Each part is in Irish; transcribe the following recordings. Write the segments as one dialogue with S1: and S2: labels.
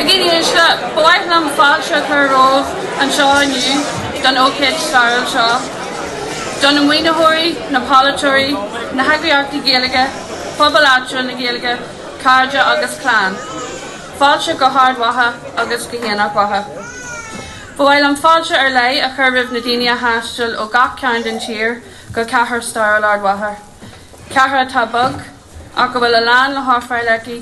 S1: A dhaoine uaisle, ba mhaith liom fáilte a chur romhaibh anseo inniu don ócáid stairiúil seo. Do na maoinitheoirí, na polaiteoirí, na heagraíochtaí Gaeilge, pobal áitiúil na Gaeilge, cairde agus clann, fáilte go hArd Mhacha agus go hAonach Mhacha. Ba mhaith liom fáilte ar leith a chur roimh na daoine a thaistil ó gach cearn den tír go Cathair stairiúil Ard Mhacha, cathair atá beag ach go bhfuil a lán le hofráil aici,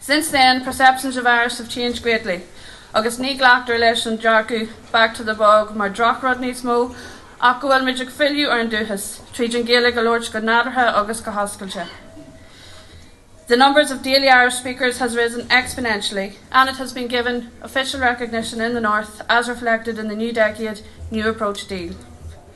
S1: Since then, perceptions of Irish have changed greatly agus ní ghlactar leis an dearcadh 'back to the bog' mar drochrud níos mó ach go bhfuil muid ag filleadh ar an dúchas tríd an Ghaeilge a labhairt go nádúrtha agus go hoscailte The numbers of daily Irish speakers has risen exponentially and it has been given official recognition in the North as reflected in the New Decade, New Approach deal.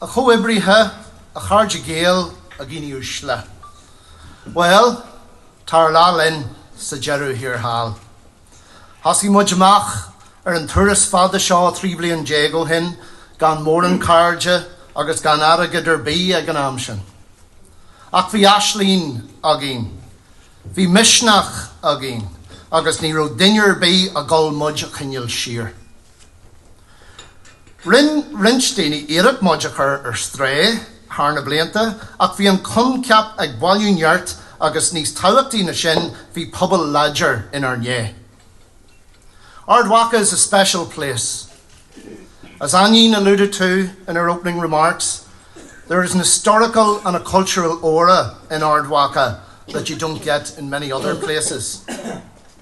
S2: A chomrádaithe, a chomhoibrithe, a chairde Gael a dhaoine uaisle. Bhuel, tá ár lá linn sa deireadh thiar thall. Thosaigh muid amach ar an turas fada seo 13 bliain ó shin gan mórán cairde agus gan airgead ar bith ag an am sin. Ach bhí aisling againn, bhí misneach againn agus ní raibh duine ar bith ag dul muid a choinneáil siar. Rinne roinnt daoine iarracht muid a chur ar strae thar na blianta ach bhí an coincheap ag bailiú nirt agus níos tábhachtaí ná sin bhí pobal láidir inár ndiaidh. Ard Mhacha is a special place. As Áinín alluded to in her opening remarks, there is an historical and a cultural aura in Ard Mhacha that you don't get in many other places.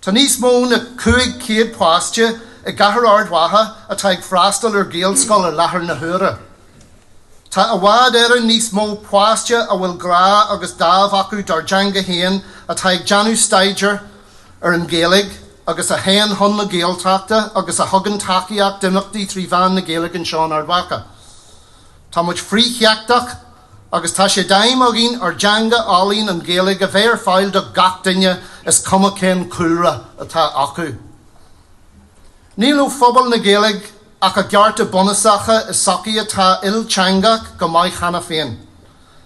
S2: Tá níos mó ná 500 páiste i gCathair Ard Mhacha atá ag freastal ar Ghaelscoil ar láthair na huaire. Tá i bhfad Éireann níos mó páiste a bhfuil grá agus dáimh acu dár dteanga féin atá ag déanamh staidéar ar an Ghaeilge agus a théann chun na Gaeltachta agus a thugann tacaíocht d'imeachtaí trí mheán na Gaeilge anseo in Ard Mhacha. Tá muid frithsheicteach. Agus tá sé d'aidhm againn ár dteanga álainn an Ghaeilge a bheith ar fáil do gach duine is cuma cén cúlra atá acu. Níl ó phobal na Gaeilge ach a gcearta bunúsacha i sochaí atá ilteangach go maith cheana féin.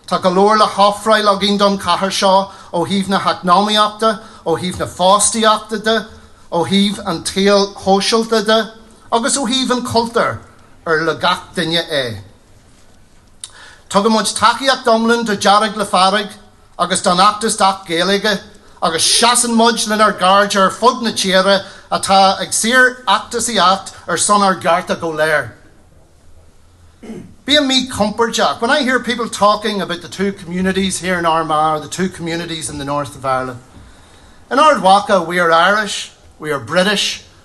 S2: Tá go leor le hofráil againn don chathair seo ó thaobh na heacnamaíochta, ó thaobh na fostaíochta de, ó thaobh an tsaoil shóisialta de agus ó thaobh an chultúir ar le gach duine é. Tugann muid tacaíocht iomlán do Dearg le Fearg agus don fheachtas d'Acht Gaeilge agus seasann muid lenár gcairde ar fud na tíre atá ag síor-fheachtasaíocht ar son ár gcearta go léir. Bím míchompordach when I hear people talking about the two communities here in Armagh or the two communities in the North of Ireland. In Ard Mhacha we are Irish, we are British,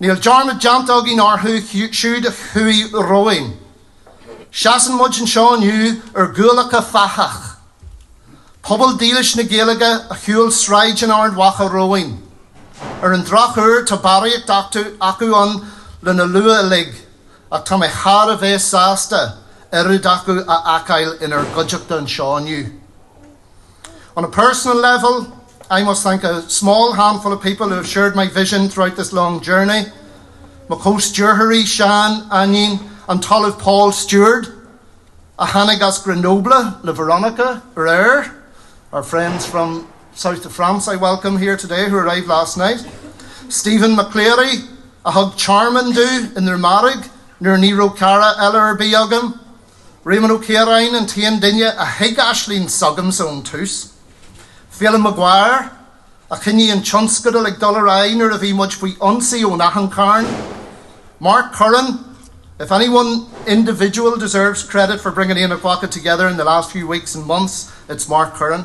S2: Níl dearmad déanta againn orthu siúd a chuaigh romhainn. Seasann muid anseo inniu ar ghuailleacha fathach, pobal dílis na Gaeilge a shiúil sráideanna Ard Mhacha romhainn. Ar an drochuair, tá barraíocht de chuid acu ann lena lua uilig, ach tá mé thar a bheith sásta oiread acu a fheiceáil inár gcuideachta anseo inniu. On a personal level, I must thank a small handful of people who have shared my vision throughout this long journey, mo chomh-stiúrthóirí, Seán, Áinín, an tOllamh Paul Steward, a tháinig as Grenoble le Veronica aréir, our friends from South of France I welcome here today who arrived last night, Stephen McCleary, a thug tearmann dúinn i nDrumaraigh nuair ní raibh cara eile ar bith agam, Réamonn Ó Ciaráin an t-aon duine a thuig aisling s'agamsa ón tús. Féilim Maguire, a choinnigh an tionscadal ag dul ar aghaidh nuair a bhí muid faoi ionsaí ón achan chearn. Mark Curran, if any one individual deserves credit for bringing Aonach Mhacha together in the last few weeks and months, it's Mark Curran.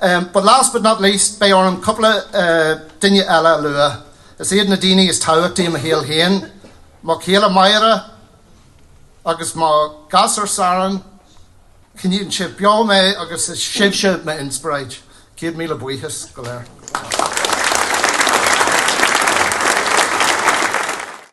S2: But last but not least, beidh orm cúpla duine eile a lua. Is iad na daoine is tábhachtaí i mo shaol féin, mo chéile Máire agus mo ghasúr Saran, coinníonn sibh beo mé agus is sibhse m'inspioráid. Céad míle buíochas daoibh go léir.